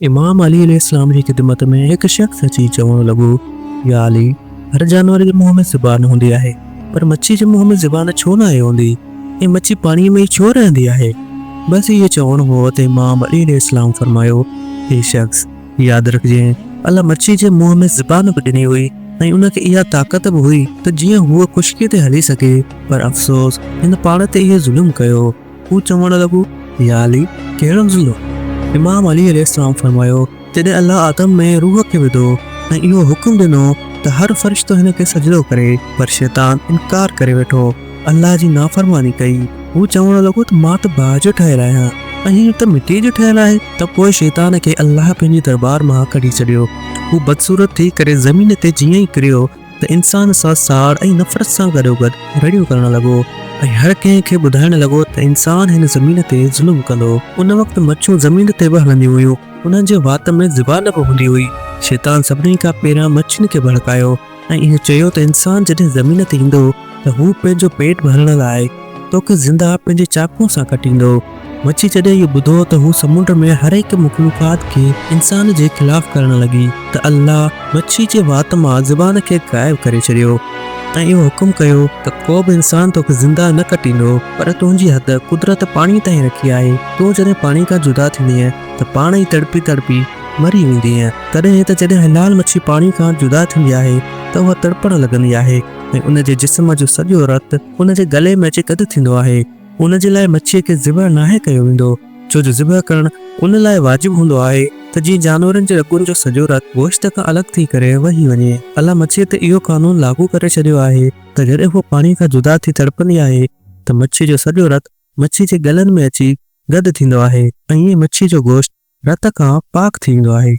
امام علي عليه السلام جي خدمت ۾ هڪ شخص اچي چوڻ لڳو، يا علي! هر جانور جي منهن ۾ زبان هوندي آهي، پر مڇي جي منهن ۾ زبان ڇو ناهي هوندي ۽ مڇي پاڻيء ۾ ئي ڇو رهندي آهي؟ بس اهو چوڻو هو ته امام علي عليه السلام فرمايو، اي شخص! ياد رکجين، الله مڇي جي منهن ۾ زبان به ڏني هئي ۽ ان کي اها طاقت به هئي ته جيئن هوء خشڪيء تي هلي سگهي، پر افسوس! هن پاڻ تي اهو ظلم ڪيو. هو چوڻ لڳو، يا علي! ڪهڙو ضلعو؟ امام علي عليه السلام فرمايو، جڏهن الله آدم ۾ روح کي وڌو ۽ اهو حڪم ڏنو ته هر فرشتو هن کي سجدو ڪري، پر شيطان انڪار ڪري ويٺو، الله جي نافرماني ڪئي. هو چوڻ لڳو ته مان ته باهه جو ٺهيل آهيان ۽ هيء ته مٽيء جو ٺهيل آهي. ته پوء شيطان کي الله پنهنجي دربار مان ڪڍي ڇڏيو. هو بدصورت ٿي ڪري زمين تي جيئن ئي ڪريو، ته انسان سان ساڙ ۽ نفرت سان گڏوگڏ رڙيون ڪرڻ لڳو ۽ هر ڪنهن کي ٻڌائڻ لڳو ته انسان هن زمين تي ظلم ڪندو. ان وقت مڇون زمين تي به هلنديون هيون. انهن جي وات ۾ زبان به هوندي هئي. شيطان سڀني کان پهريان مڇين کي ڀڙڪايو ۽ اهو چيو ته انسان جڏهن زمين تي ايندو، ته هو پنهنجو پيٽ ڀرڻ لاء توکي زنده پنهنجي چاقوء سان ڪٽيندو. مڇي جڏهن اهو ٻڌو ته هو سمنڊ ۾ هر هڪ مخلوقات کي انسان جي خلاف ڪرڻ لڳي ته الله مڇي جي وات مان زبان کي غائب ڪري ڇڏيو ۽ اهو حڪم ڪيو ته ڪوبه انسان توکي زنده نه ڪٽيندو پر تنهنجي حد قدرت پاڻي تائين رکي آهي تون جڏهن پاڻي کان جدا ٿيندينء ته پاڻ ئي تڙپي تڙپي مري ويندينء تڏهن ته جڏهن حلال مڇي پاڻي کان جدا ٿيندي آهي ته اها تڙپڻ لڳندي آهي. ۽ ان جي جسم جو سڄو رت ان جي ڳلي ۾ اچي گڏ ٿيندو آهي. ان جي لاء مڇيء کي ذبح ناهي ڪيو ويندو، ڇو جو ذبح ڪرڻ ان لاء واجب هوندو آهي ته جيئن جانورن جي رڳن جو سڄو رت گوشت کان الڳ ٿي ڪري وهي وڃي. الله مڇيء تي اهو قانون لاڳو ڪري ڇڏيو آهي ته جڏهن هوء پاڻيء کان جدا ٿي تڙپندي آهي ته مڇيء جو سڄو رت مڇيء جي ڳلن ۾ اچي گڏ ٿيندو آهي ۽ ائين مڇيء جو گوشت رت کان پاڪ ٿي ويندو آهي.